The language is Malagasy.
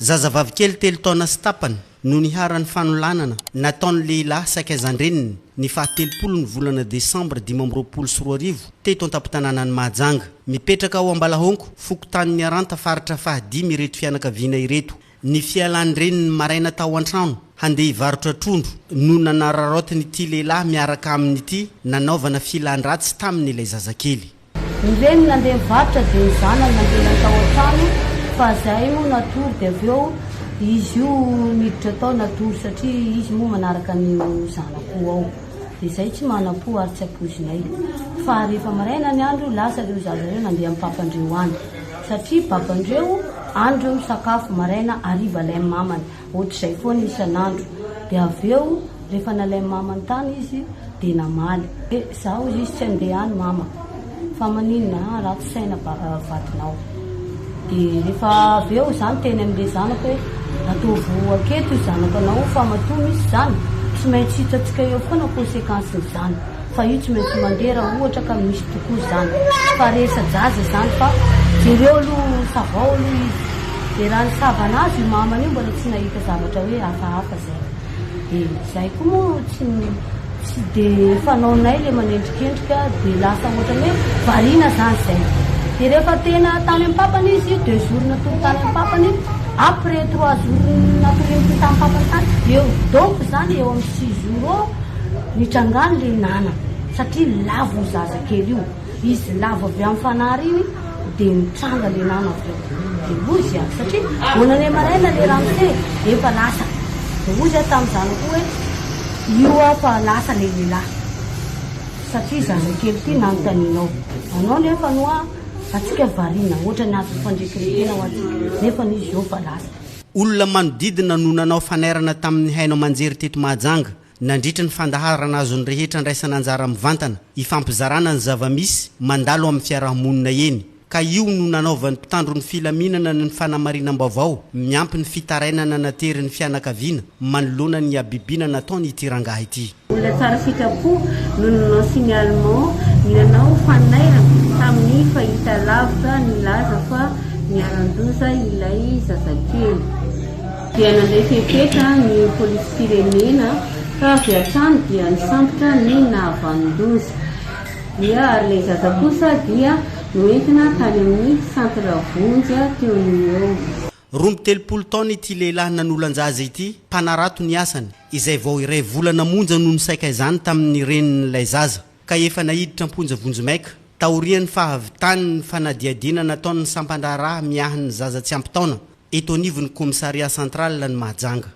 Zazavavy kely telo taona sy tapany no niharan'ny fanolanana nataon'ny lehilahy sakaizan-dreniny ny faha telopolo ny volana desambra dimy amby roapolo sy roa arivo teto an-tampon-tanànan'i Mahajanga. Mipetraka ao Ambalahonko, fokontany Miaranta, faritra faha dimy ireto fianakaviana ireto. Ny fialan'ny reniny maraina tao an-trano handeha hivarotra trondro no nanararaotin'ity lehilahy miaraka aminy ity nanaovana filan-dratsy taminy ilay zazakely. Ny reniny nandeha nivarotra dia ny zanany nandeha tao an-trano fa zay moa natory dia avy eo izy io niditra tao natory satria izy moa manaraka ny zana-po ao dia zay tsy mana-po ary tsy ampoizinay fa rehefa maraina ny andro lasa ireo zaza ireo nandeha amin'ny papandreo any satria babandreo any ireo misakafo maraina hariva ilay mamany Ohatr'izay foana isan'andro. Dia avy eo rehefa nalain'i Mama ny tany izy dia namaly. Dia za hoy izy tsy handeha any Mama fa maninona a! ratsy saina vadinao. Dia rehefa avy eo za niteny amin'ilay zanako hoe ataovy aketo io zanako anao io fa matoa misy izany tsy maintsy hitantsika eo foana conséquence-n'izany. Fa io tsy maintsy mandeha raha ohatra ka misy tokoa izany. Tsy faharesa-jaza izany fa jereo aloha savao aloha izy. Dia raha nisava an'azy io mamany io mbola tsy nahita zavatra hoe hafahafa izay. Dia izahay koa moa tsy tsy dia fanaonay ilay manendrikendrika dia lasa ohatran'ny hoe variana izany izay. Dia rehefa tena tany amin'ny papany izy io deux jours natory tany amin'ny papany io, après trois jours natorian'ity tamin'ny papany tany, eo donc izany eo amin'ny six jours eo, Nitrangany le nana satria lavo io zaza kely io, izy lavo avy am fanary iny de nitranga le nana avy eo de ozy a satria vao nane maraina le ramose efa lasa de ozy a tam zanako io hoe io a fa lasa le lelah satria zaza kely ty nanotaninao anao nefa no a atsika variana otrany azo fandrekerekena ho atsika nefa izy eo fa lasa. Olona manodidina no nanao fanairana tamin'ny haino aman-jery teto Mahajanga Nandritra ny fandaharana azon'ny rehetra andraisana anjara mivantana hifampizarana ny zava-misy mandalo amin'ny fiaraha-monina eny ka io no nanaovan'ny mpitandro ny filaminana ny fanamarinam-baovao miampy ny fitarainana naterin'ny fianakaviana manoloana ny habibiana nataony ity rangahy ity. Olona tsara sitrapo no ninoansi ny Allemands ny nanao fanairana tamin'ny fahitalavitra nilaza fa niharan-doza ilay zazakely. dia nandray fepetra ny polisim-pirenena ka avy hatrany dia nisambotra ny nahavanon-doza dia ary ilay zaza kosa dia noentina tany amin'ny centre vonjy teo no eo. Roa amby telopolo taona ity lehilahy nanolan-jaza ity, mpanarato ny asany, izay vao iray volana monja no nisaika izany tamin'ny renin'ilay zaza. ka efa naiditra am-ponja vonjimaika, taorian'ny fahavitan'ny fanadihadiana nataon'ny sampan-draharaha miahy ny zaza tsy ampy taona, eto anivon'ny Commissariat central-n'i Mahajanga.